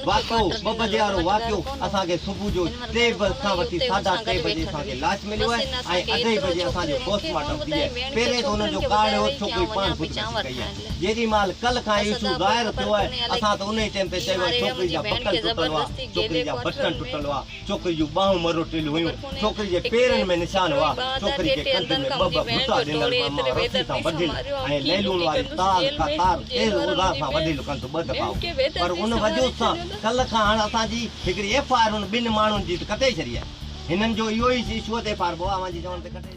واقعو، ٻه بجي وارو واقعو اسان کي صبح جو ٽي به کان وٺي ساڍا ٽي بجي اسان کي لاش مليو آهي ۽ اڍائي بجي اسان جو پوسٽ مارٽم ٿي آهي. پهرين ته ان جو ڪارڻ اهو ته ڇوڪري پاڻ خودڪشي ڪئي آهي. جيڏي مهل ڪل کان هي ايشو ظاهر ٿيو آهي، اسان ته انهي ٽيم تي چيو آهي ڇوڪري جا بڪل ٽٽل هئا، ڇوڪري جا بٽڻ ٽٽل هئا. ڇوڪري جون ٻانهون مروٽيل هيون، ڇوڪري جي پيرن ۾ نشان هئا، ڇوڪري جي ڪنڌ ۾ ٻه ٻه ڀرتا ڏنل ماما رسي سان ٻڌيل ۽ ليلون واري تار ڪا تار تيز اوزار سان وڍيل ڪنڌ ٻه دفعا هو پر ان وجود سان ڪل کان هاڻ اسان جي هڪڙي ايف آء آر ان ٻن ماڻهن جي ته ڪٽي ڇڏي آهي هنن جو اهو ئي ايشو ته ايف آء آر ٻه اوهان جي چوڻ تي ڪٽي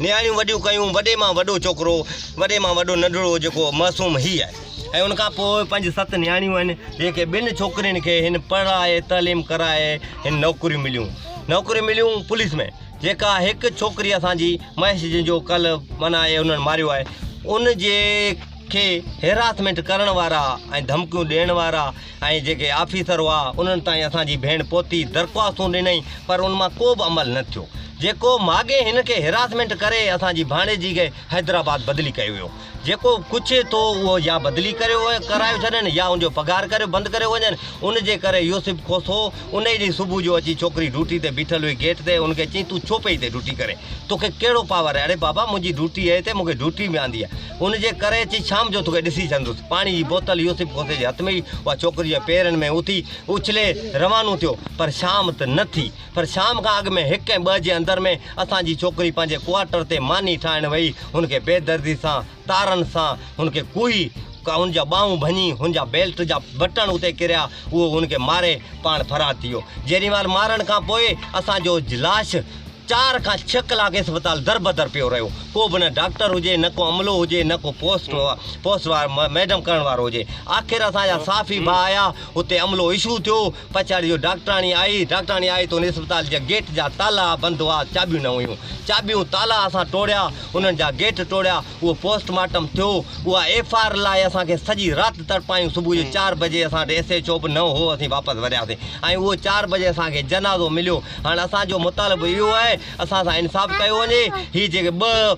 نياڻيون وڏيون ڪيون، وڏي مان وڏو ڇوڪرو، وڏي مان وڏو ننڍڙو جيڪو معصوم هي آهي ۽ ان کان پوء پنج ست نياڻيون آهن جيڪي ٻن ڇوڪرين کي هن پڙهائي تعليم ڪرائي هن نوڪريون مليون نوڪريون مليون پوليس ۾ جيڪا هڪ ڇوڪري اسان جي مهيش جنهن جو ڪلهه من آهي انهن ماريو آهي ان جي کي هيراسمينٽ ڪرڻ وارا ۽ ڌمڪيون ڏيڻ وارا ۽ جيڪي آفيسر هئا انهن تائين اسان جي ڀيڻ پهتي، درخواستون ڏنائين پر ان مان ڪو به عمل نه ٿيو. جيڪو ماڳهين هن کي هراسمينٽ ڪري اسان جي ڀاڻيجي کي حيدرآباد بدلي ڪيو ويو. جيڪو ڪڇي ٿو اهو يا بدلي ڪريو ڪرايو ڇڏين يا ان جو پگهار ڪريو بند ڪريو وڃن. ان جي ڪري يوسف کوسو انهي ڏينهن صبح جو اچي ڇوڪري ڊوٽي تي بيٺل هئي گيٽ تي ان کي چيائين تون ڇو پئي هتي ڊوٽي ڪرين؟ توکي ڪهڙو پاور آهي؟ اڙي بابا منهنجي ڊوٽي اهي تي مون کي ڊوٽي ۾ آندي آهي. ان جي ڪري اچي شام جو توکي ڏسي سگهندس. پاڻي جي بوتل يوسف غوثي جي هٿ ۾ هئي، اها ڇوڪري جي پيرن ۾ اٿي اڇلي روانو ٿيو. پر شام ته نه ٿي. پر شام کان اڳ ۾ هڪ ۽ ٻه جي اندر ۾ اسان جي ڇوڪري پنهنجي ڪوارٽر تي ماني ٺاهڻ ويئي. هن کي بي دردي سان تارن سان هن کي ڪوهي ڪا هن جا ٻانهون ڀڃي، هن جا بيلٽ جا بٽڻ اتي ڪريا، اهو هن کي ماري پاڻ فرار ٿي ويو. جيريمال مارڻ کان پوء اسان جو لاش چار کان ڇهه ڪلاڪ اسپتال دربدر پيو رهيو. ڪو به نه ڊاڪٽر هجي، نه ڪو عملو هجي، نه ڪو پوسٽ پوسٽ مارٽم ڪرڻ وارو هجي. آخر اسان جا صحافي ڀا آيا، اتي عملو اشو ٿيو. پڇاڙي جو ڊاڪٽراڻي آئي، ڊاڪٽراڻي آئي ته ان اسپتال جي گيٽ جا تالا بند هئا، چاٻيون نه هيون. چاٻيون تالا اسان ٽوڙيا، انهن جا گيٽ ٽوڙيا. اهو پوسٽ مارٽم ٿيو، اها ايف آء آر لاء اسان کي سڄي رات تڙپايون، صبح جو چار بجي اسان وٽ ايس ايڇ او به نه هو، اسين واپس ورياسين ۽ اهو چار بجي اسان کي جنازو مليو، هاڻ اسان جو مطالبو اهو آهي اسان سان انصاف ڪيو وڃي، هي جيڪي ٻه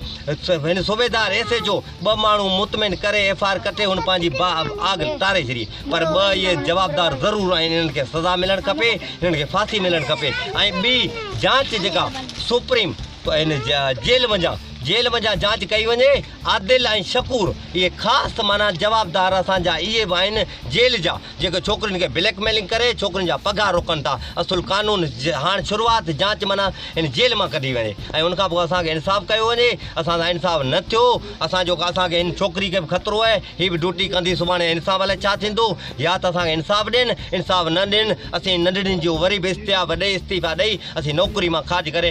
هن صوبيدار ايس ايڇ او ٻه ماڻهو مطمئن ڪري ايف آء آر ڪٽي هن پنهنجي باهه اب آگ ٽاري ڇڏي پر ٻه اهي جوابدار ضرور آهن انهن کي سزا ملڻ کپي، انهن کي ڦاسي ملڻ کپي ۽ ٻي جانچ جيڪا سپريم ته هن جي جيل منجهان جيل منجهان جاچ ڪئي وڃي. عادل ۽ شڪور اهي خاص ته معنيٰ جوابدار اسان جا اهي به آهن جيل جا جيڪي ڇوڪرين کي بليڪ ميلنگ ڪري ڇوڪرين جا پگهار روڪن ٿا. اصل قانون جي هاڻ شروعات جاچ منان هن جيل مان ڪڍي وڃي ۽ ان کان پوء اسان کي انصاف ڪيو وڃي. اسان سان انصاف نه ٿيو اسان جو اسان کي هن ڇوڪري کي به خطرو آهي هي به ڊوٽي ڪندي سڀاڻي انصاف الائي ڇا ٿيندو يا ته اسان کي انصاف ڏين انصاف نه ڏين اسين ننڍڙين جون وري به استعاف ڏئي استعيفا ڏئي اسين نوڪري مان خارج ڪري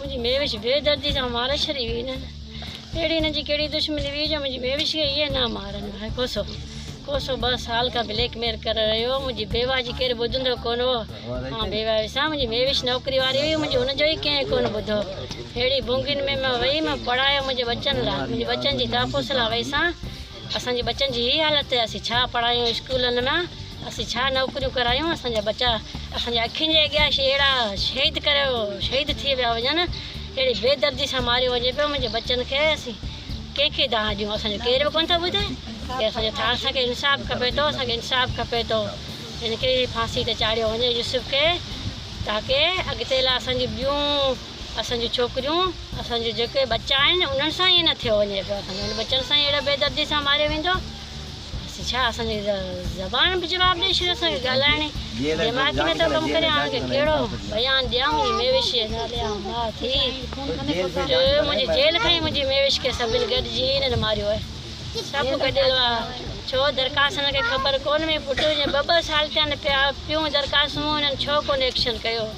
منهنجي ميوش بي دردي سان ماري ڇڏي هئي نه اهڙي هن جي ڪهڙي دشمني هئي جو منهنجي ميوش کي اهي نه مارن هاء ڪوسو ڪوسو ٻه سال کان بليڪ ميل ڪري رهيو هو منهنجي بيواه جي ڪير ٻڌندو ڪون هو مان بيواه هيس ها منهنجي ميوش نوڪري واري هئي منهنجي هن جو ئي ڪنهن ڪون ٻڌو ههڙي ڀونگين ۾ مان وئي مان پڙهايو منهنجي ٻچن لاء منهنجي ٻچن جي تحفظ لاء وئي سان اسان جي ٻچن جي هي حالت ته اسين ڇا پڙهايون اسڪولن ۾ اسين ڇا نوڪريون ڪرايون اسان جا ٻچا اسان جي اکين جي اڳيان اهڙا شهيد ڪري شهيد ٿي ويا وڃن اهڙي بي دردي سان ماريو وڃي پيو منهنجي ٻچن کي اسين ڪنهن کي دانهن ڏيون اسان جو ڪير به ڪونه ٿو ٻڌي ڪي اسان جو ٿا اسان کي انصاف کپي ٿو اسان کي انصاف کپي ٿو هن کي ڦاسي تي چاڙهيو وڃي يوسف کي تاڪي اڳتي لاء اسان جي ٻيون اسان جون ڇوڪريون اسان جون جيڪي ٻچا آهن انهن سان ائين نه ٿيو وڃي پيو اسان جي ٻچن سان اهڙي بي دردي سان ماريو ويندو اسين ڇا اسان جي زبان به جواب ڏئي ڇڏيو اسان کي ڳالهائڻي دماغ نه ٿو ڪم ڪري هاڻ ڪهڙو بيان ڏيان منهنجي ميوش جي نالي آ ماء ٿي منهنجي جيل کان ئي منهنجي ميوش کي سڀن گڏجي انهن ماريو آهي سڀ گڏيل آ ڇو درخواست هن کي خبر ڪون هئي پٽ جي ٻه ٻه سال ٿيا آهن پيا پيون درخواست مون هنن ڇو ڪون ايڪشن ڪيو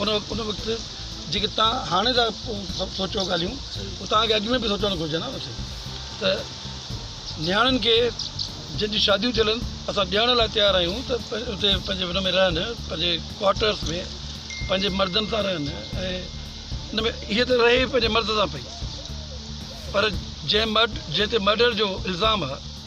ان ان وقت جيڪي تان هاڻي ٿا سوچو ڳالهيون هو تان کي اڳ ۾ به سوچڻ گهرجن ها مٿي ته نياڻين کي جن جون شاديون ٿيل آهن اسان ڏيڻ لاء تيار آهيون ته اتي پنهنجي ان ۾ رهن پنهنجي ڪوارٽرس ۾ پنهنجي مردن سان رهن ۽ ان ۾ هيء ته رهي پنهنجي مرد سان پئي پر جنهن مرڊ جنهن تي مرڊر جو الزام آهي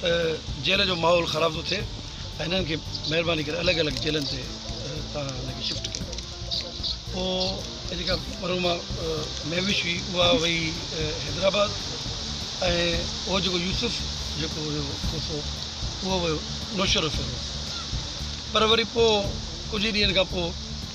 ته جيل جو ماحول خراب ٿو ٿئي ۽ هنن کي مهرباني ڪري الڳ الڳ جيلن تي تان هن کي شفٽ ڪيو پوء جيڪا مرحومه مهوش هئي اها وئي حيدرآباد ۽ اهو جيڪو يوسف جيڪو هيو کوسو اهو ويو نوشهرو فيروز پر وري پوء ڪجهه ڏينهن کان پوء